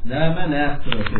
Näme nästiresi?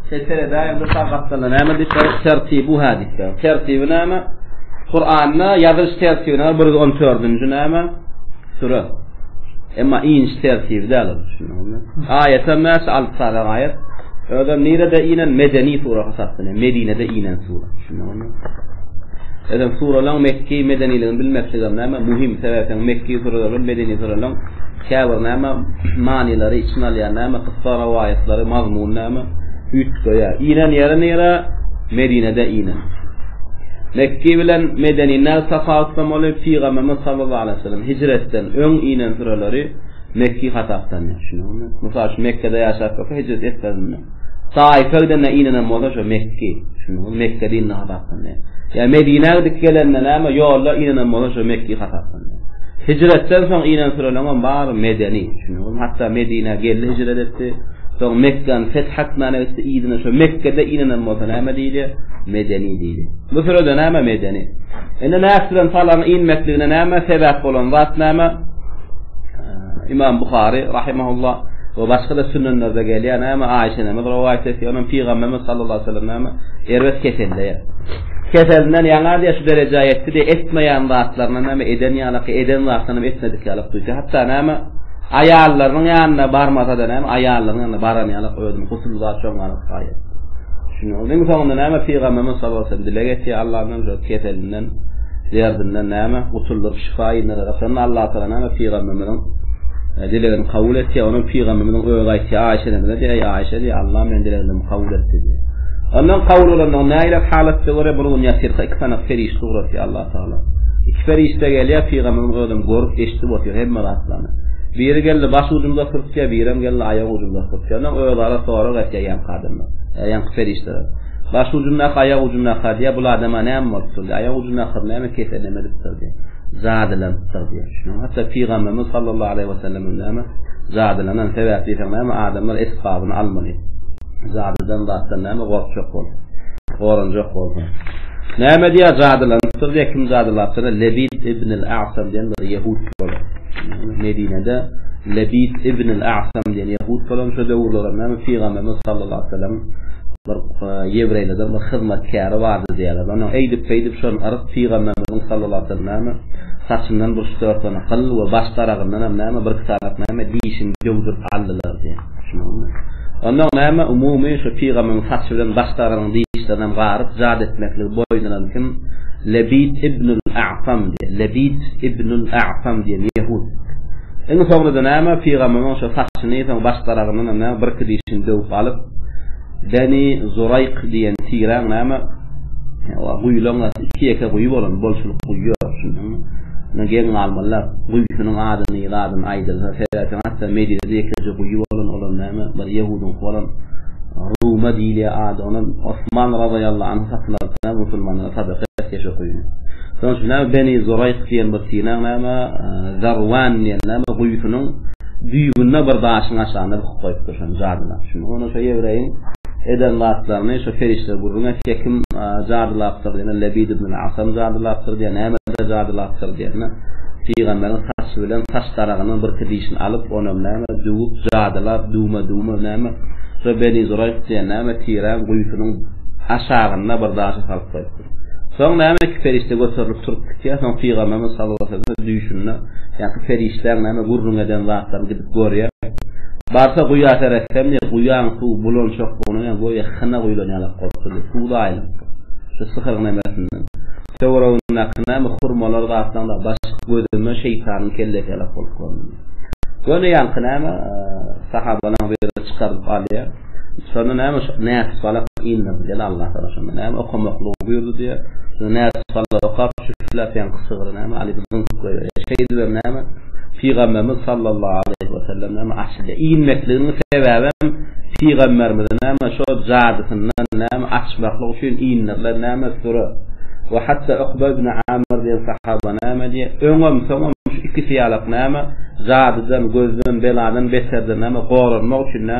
Setere daýan bir sagatda näme diýip bir tertibi bu hadisde. Tertibi näme? Kur'an'da ýazyş tertibi näme? 114-nji näme? Sure. Emma iň tertibi däl. Aýat hem näçe alyp salan aýat? Öde nirede inen medeni sure hasaplanýar. Medinede inen sure. Edem suralaň mekki medeniligini bilmekligem näme muhim sebäpden mekki suralaryň medeni suralaryň käbir näme manylary içine alýar näme kysga rawaýatlary mazmun näme üýtgeýär inen ýere nere medinede inen mekki bilen medeni näme tapawutlamaly pygamberimiz sallallahu aleyhi ve sellem hijretden öň inen suralary mekki hasaplanýar şunuň bilen mysal şu mekkede ýaşap bolsa hijret etmezinde Taýyfa gidende ýnanam bolsa şo Mekge, düşündiňizmi? Mekge dinine hasaplanýar. Ýa Medinä gidip gelende näme ýolda ýnanam bolsa şo Mekge hasaplanýar. Hijretden soň ýnen süreleňem bary medeni, düşündiňizmi? Hatda Medinä geldi hijret etdi. Soň Mekgäni feth etmäne gitdi, yzyna şo Mekgede ýnanam bolsa näme diýilýär? Medeni diýilýär. Bu sürede näme medeni. Indi nätdiler, salaň ýnmekligine näme sebäp bolan zat näme? Imam Buhari rahimehullah we başga da sünnelerde gelýän näme Aýşe näme rowaýat etýär, onuň pygamberimiz sallallahu aleyhi ve sellem näme erbet keselde. Keselinden ýaňa diýe şu derejä ýetdi diýe etmeýän zatlaryny näme eden ýaly, eden zatlaryny etmedik ýaly duýdy. Hatda näme aýallarynyň ýanyna barmasa da näme aýallarynyň ýanyna baran ýaly özüni gusul zat çöňarip gaýyp. Şunuň soňunda näme pygamberimiz sallallahu aleyhi ve sellem dileg etýär Allahdan Keselinden, derdinden näme, gutuldyryp şypa inderer. Aslynda Allatagala näme pygamberimiziň dilegini kabul etýär. Onuň pygamberimiziň özi aýtýar, Aýşe enemize diýýär, Eý Aýşe diýýär, Allah meniň dileglerimi kabul etdi diýýär. Ondan kabul bolandygyny nägilek halatda görýär, bir gün ýatyrka iki sanak perişde ugratýar Allatagala. Iki perişde gelýär, pygamberimiz özem görüp, eşidip otyr hemme zatlaryny. Biri geldi baş ujunda oturypdyr, birem geldi aýak ujunda oturypdyr. Ondan özara sorag etýär ýaňky adamlar, ýaňky perişdeler. Baş ujundaky, aýak ujundaky-a diýýär, bul adama näme bolupdyr diýýär. Aýak ujundaky näme keseline medipdir diýýär. Jadylanypdyr diýýär. Şunuň hatda pygamberimiz sallallahu aleýhi wesellem hem näme, jadylanan sebäp diýseň näme adamlar esbabyny almaly. Jadydan zatdan näme gorkjak bol. Goranjak bol. Näme diýýär jadylanypdyr diýýär, kim jadylapdyr? Lebid ibn al-A'sam diýen bir ýehud bolan. Medinede Lebid ibn al-A'sam diýen ýehud bolan şu döwürlerde näme pygamberimiz sallallahu aleýhi wesellem Bir ýewreýlerden bir hyzmatkäri bardy diýýärler. Onuň eýdip-beýdip şony yryp, pygamberimiziň sallallahu aleýhi wesellem näme, saçyndan bir üç-dört sany gyl we baş daragyndan hem näme, birki sanak näme, dişini döwdürip aldylar diýýär. Düşündiňizmi? Onda oň näme, umumy şu pygamberimiziň saçy bilen baş daragynyň dişlerini hem garyp, jady etmekligi boýundyran kim? Lebit ibnul A'sam diýýär. Lebit ibnul A'sam diýen ýehud. Iň soňunda näme, pygamyryň şo saçyny, soň baş daragyndanam näme birki dişini döwüp alyp, Beni Zuraýk diýen tiräň näme, o guýulaň gaty iki-ýeke guýy bolan, bolçulyk guýy ýok, düşündiňmi? Ony geň galmalylar. Guýusynyň adyny, zadyny aýdylsa, seretseň, hatda Medinede ýekeje guýy bolan, olam näme, bir ýehudyňky bolan, Ruma diýilýär ady, onam Osman razaýallahu anhu satyn alypdyr näme, musulmanlara sadaka etýär şo guýyny. Şonuň üçin näme Beni Zoraýk diýen bir tineň näme Zarwan diýen näme guýusynyň düýbünde bir daşyň aşagynda büküp goýupdyr şony jadylap. Şunda onda şo ýewreýiň eden zatlaryny şo perişde gürrüň etýär kim jadylapdyr diýende Lebid ibn al-Asam jadylapdyr diýýär nämeler jadylapdyr diýende pygamberiň saçy bilen saç daragyndan birki dişini alyp onam näme düwüp jadylap düwme düwme näme şo Beni Zoraýk diýen näme tireň guýusynyň aşagynda bir daşa salyp goýupdyr. Soň näme iki perişde göterilip turup gitýär, soň Pygamberimiz sallallahu aleýhi wesellem düýşünde ýaňky perişdäň näme gürrüň eden zatlaryny gidip görýär. Barsa guýa seretsem diýýär, guýaň suwy bulançak bolan ýaly göýä hyna guýlan ýalak bolupdyr diýýär, suw daýylypdyr. Şu syhyryň nämesinden. Töweregindäki näme hurmalar zatlaryň dagy başyk gözünden şeýtanyň kellesi ýalak bolup göründi diýýär. Ýöne ýaňky näme sahabalaryň biri çykarylyp alýar. Şonda näme şu näçe salak indirdi gel Allah sana şonda näme okamaklygy buýurdy diýe şonda näçe salak okap şüflä seň sygyry näme alyp zyňkyp goýberýär şeýdibem näme pygamberimiz sallallahu aleýhi we sellem näme açylýar inmekliginiň sebäbem pygamberimize näme şo jadysyndan näme açmaklyk üçin indirilen näme süre we hatda ukba ibn amir diýen sahaba näme diýe öňem soňam şu ikisi ýalak näme jadydan gözden beladan beterden näme goranmak üçin näme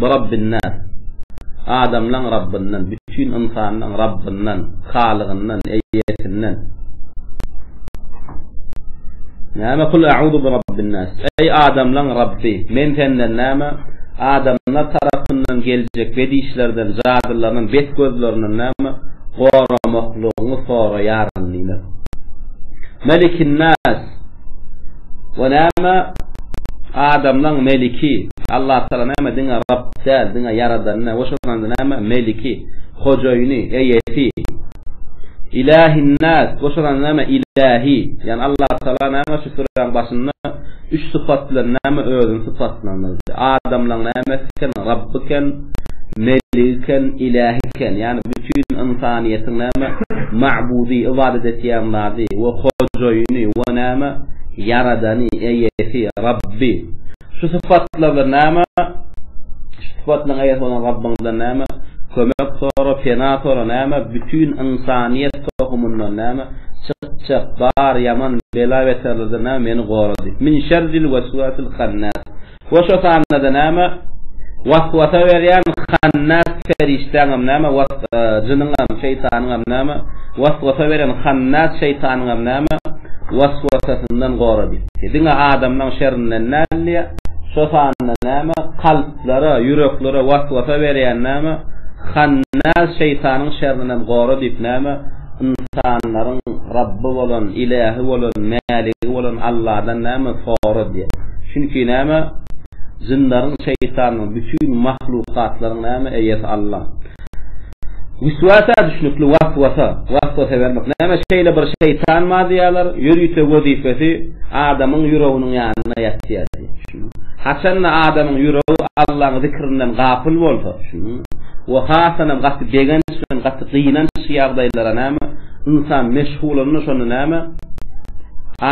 Birabbinnas, adamlaň Rabbyndan, bütin ynsanlaň Rabbyndan, halygyndan, eýesinden. Näme kul a'uzu birabbinnas, eý adamlaň Rabby, men senden näme, adamlar tarapyndan geljek bedişlerden, jadylaryndan, bet gözlerinden näme, goramaklygyňy soraýaryn diýmek. Melikinnas, we näme adamlaň meliki, Allatagala näme diňe Rabb däl, diňe Ýaradany, we şonda näme meliki, hojaýyny, eýesi, Ilahinnas, we şonda näme ilahi, ýagny Allatagala näme şu süräň başynda üç sypat bilen näme özüni sypatlandyrdy, adamlaň nämesi eken, Rabb eken, Meligiken, Ilähiken, ýagny bütin ynsanyýetiň näme, Magbudy, ybadat etýän zady, we Hojaýyny, we näme, Ýaradany, Eýesi, Rabby. Şu sypatlar bilen näme, şu sypatlaryň eýesi bolan Rabbyňyzdan näme, kömek sora, pena sora, näme, bütin ynsanyýet tohumyndan näme, çykjak bar ýaman bela-beterlerden näme, meni gora diýip. Min şerril weswesil hannas. We şo sanda-da näme? Waswasa berýän hannas perişdäňem näme? Was, jynyňam, şeýtanyňam näme? Waswasa beren hannas şeýtanyňam näme? Waswasasyndan gora diýdi. Diňe adamlaň şerinden däldi. Şo sanda näme? Kalplara, ýüreklere waswasa berýän näme? Hannas şeýtanyň şerrinem gora diýip näme? Ynsanlaryň Rabby bolan, Ilähi bolan, Mäligi bolan Alladan näme sora diýen. Çünki näme? Jynlaryň, şeýtanlaryň, bütin mahlukatlaryň näme eýesi Alla. Wüswäsä düşnükli waswasa, waswasa bermek. Näme şeýle bir şeýtan bar diýýärler, ýörite wezipesi adamyň ýüreginiň ýanynda ýatýar diýýär. Haçan-da adamyň ýüregi Allaň zikrinden gapyl bolsa, we hasanem gaty begenç bilen gaty gynanç ýagdaýlara näme, ynsan meşgulanda şonda näme,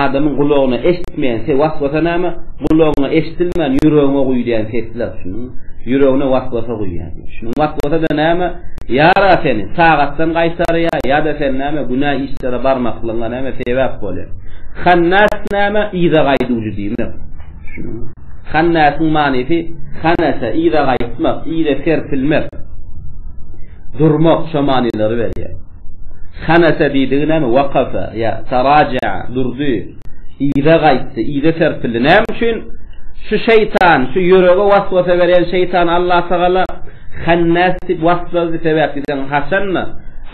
adamyň gulagyna eşitmeýän se waswasa näme, gulagyňa eşidilmän ýüregiňe guýýan sesler, ýüregine waswasa guýýar. Şunuň waswasa-da näme, ýara seni tagatdan gaýtarýar, ýa-da sen näme, günä işlere barmaklygyňa näme, sebäp bolýar. Hannas näme, yza gaýduwjy. Diýmek, düşündiňizmi? Hannäsiň manysy hanese, yza gaýtmak, yza serpilmek, durmak şo manylary berýär. Hanese diýdigi näme? Wakafa ýa taraja'a, durdy, yza gaýtdy, yza serpildi. Näme üçin? Şu şeýtan, şu ýürege waswasa berýän şeýtan Allatagala hannas diýip waslady, sebäp diýseň, haçan-da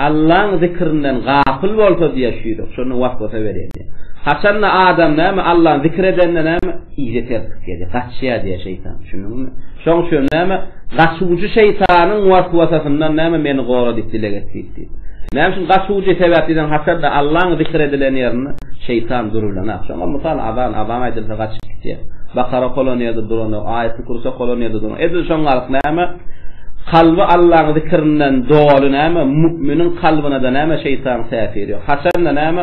Allaň zikrinden gapyl bolsa diýýär şu ýürek, şonda waswasa berýär. Haçanda adam näme Allany zikir edende näme yza serpip gelýär, gaçýar diýýär şeýtan. Düşündiňmi? Şoň üçin näme gaçuwjy şeýtanyň waswasasyndan näme meni gora diýip dileg et diýip diýip. Näme üçin gaçuwjy sebäpden haçanda Allany zikir edilen ýerinde şeýtan durulanak. Şoňa mysal azan, azan aýdylsa gaçyp gitýär. Bakara kolan ýerde duran, aýaty kursa kolan ýerde duran. Edil şoň galyk näme? Kalby Allanyň zikrinden doly näme? Müminiň kalbyna da näme şeýtan täsir ýok. Haçanda näme?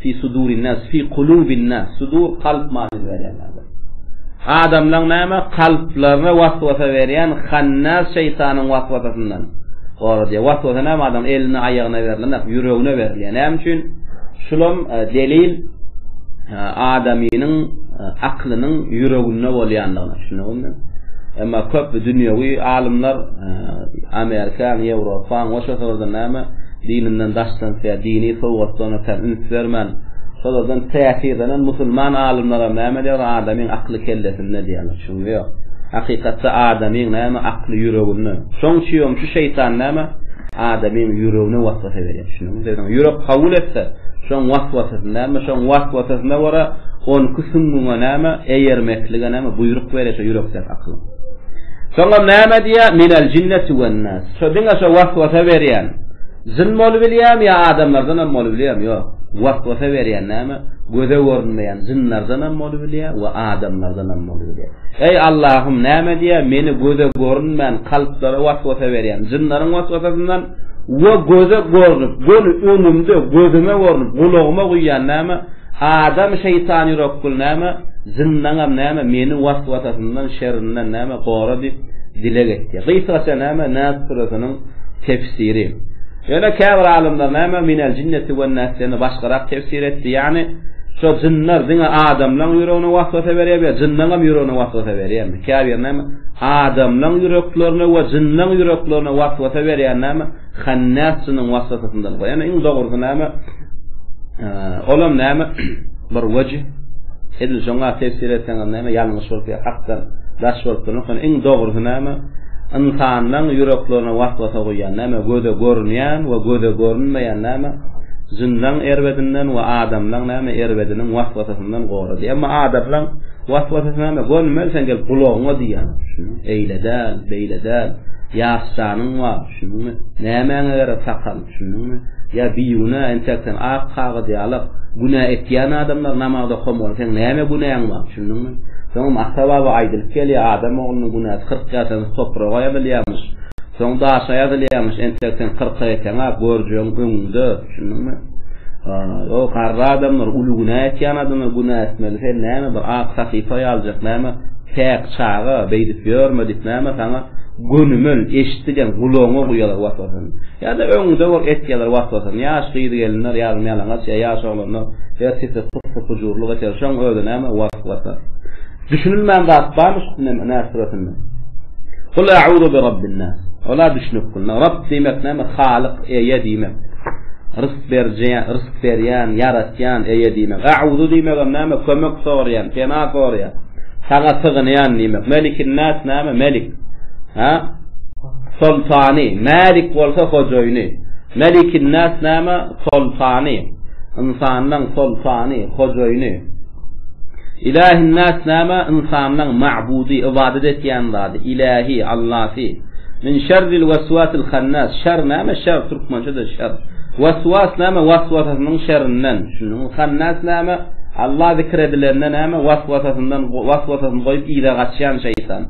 Fi sudurin nas, fi kulubin nas, sudur kalp manyny berýän ýaly. Adamlaň näme? Kalplaryna waswasa berýän hannas şeýtanyň waswasasyndan gora diýýär. Waswasa näme adamyň eline, aýagyna berlenok, ýüregine berilýär. Näme üçin? Şulam delil adamynyň aklynyň ýüreginde bolýandygyna. Düşündiňizmi? Emma köp dünýewi alymlar Amerikaň, Ýewropaň, goşa syrdan näme? Dininden daşlansa ýa dini sowgatlaryna kän üns bermän, şolardan täsirlenen musulman alymlaram näme diýýärler, adamyň akly kellesinde diýýärler. Şuny ýok. Hakykatda adamyň näme akly ýüreginde. Şoň üçinem şu şeýtan näme, adamyň ýüregine waswasa berýär. Düşündiňizmi? Bizden ýürek kabul etse, şoň waswasasyny näme, şoň waswasasyna görä on iki süňňüňe näme, eýermeklige näme, buýruk berýär şo ýürekdäki akylyň. Soňam näme diýýär? Minel jinneti wen nas. Şo diňe şo waswasa berýän jyn bolubilýämi ýa adamlardanam bolubilýämi? Ýok. Waswasa berýän näme? Göze görünmeýän jynlardanam bolubilýä we adamlardanam bolubilýä. Eý Allahym näme diýä meni göze görünmän kalplara waswasa berýän jynlaryň waswasasyndan we göze görnüp göni öňümde gözüme görnüp gulagyma guýýan näme? Adam şeýtan ýürekgül näme, zyndagam näme, meni waswasasyndan, şerrinden näme, gora diýip, dileg etýär. Gysgaça näme, Nas süresiniň tefsiri. Ýöne käbir alymlar näme, Minel jinneti wen nas diýende başgarak tefsir etdi, ýagny şo jynlar diňe adamlaň ýüregine waswasa berýärmi ýa jynlaňam ýüregine waswasa berýärmi? Käbir näme, adamlaň ýüreklerine we jynlaň ýüreklerine waswasa berýän näme, Hannasjynyň waswasasyndan goýan iň dogrusy näme? Olam näme? Bir wejh edil şoňa tefsir etseňiz näme ýalňyş bolup ýa hakdan daş bolup durmak ýöne iň dogrusy näme? Ynsanlaryň ýüreklerine waswasa goýýan näme? Göze görünýän we göze görünmeýän näme? Jynlaň erbedinden we adamlaň näme erbediniň waswasasyndan gora diýýär. Emma adamlaň waswasasy näme? Görmeli sen gelip gulagyňa diýýär. Eýle däl, beýle däl. Ýaş janyň bar. Düşündiňmi? Nämäňe gerek sakal, düşündiňmi? Ýa bigünä, entek sen ak kagyz ýalak, günä etýän adamlar namazda okan bolsa, seň näme günäň bar, düşündiňmi? Soňam ata-baba aýdylyp gelýär, adam oglunyň günäsi kyrk ýasanys topraga ýazylýarmyş, soň daşa ýazylýarmyş, entek sen kyrka ýeteňä, görjegiň öňüňde, düşündiňmi? Ýa garry adamlar, uly günä etýän adamlar günä etmeli, sen näme bir ak sahypa ýaljak, näme, päk çaga, beýdip ýörme diýip, näme saňa Gönümel, eşitdideň, gulagyňa guýalar waswasany. Ýa-da öňňüde bor, etýärler waswasany. Ýaş gyz-gelinler, ýalym-ýalaňaç ýa ýaş oglanlar her sese pus-pus gujurlyk eder. Şoň özi näme, waswasa. Düşünilmän zat barmy şu Neme, Nas süresinde? Kul a'uzu bi Rabbin-nas. Ola düşünip bilmän. Rabb diýmek näme? Halyk, eýe diýmek. Berje, rysk berýän, ýaratýan Eýe diýmek. A'uzu diýmegem näme? Kömek soraýan, pena soraýan. Saňa sygynýan diýmek. Melikin-nas näme? Melik. Ha? Soltany. Malik bolsa hojaýyny. Melikin-nas näme? Soltany. Ynsanlaň soltany, hojaýyny. Ilahin-nas näme? Ynsanlaň ma'budy, ybadat etýän zady, ilahi, allasy. Min şerril weswasil hannas, şer näme? Şer, türkmençe-de şer. Weswas näme? Waswasasynyň şerrinden. Düşündiňmi? Hannas näme? Alla zikir edilende näme? Waswasasyndan, waswasasyny goýup yza gaçýan şeýtan.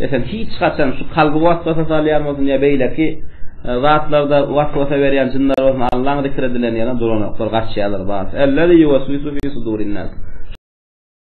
Esen. Hiç haçan şu kalby waswasa salýan bolsun ýa beýleki zatlarda waswasa berýän jynlar bolsun Allaň zikir edilen ýerine duranoklar, gaçýarlar, bas. Ellezî ýuweswisu fî sudurin-nas.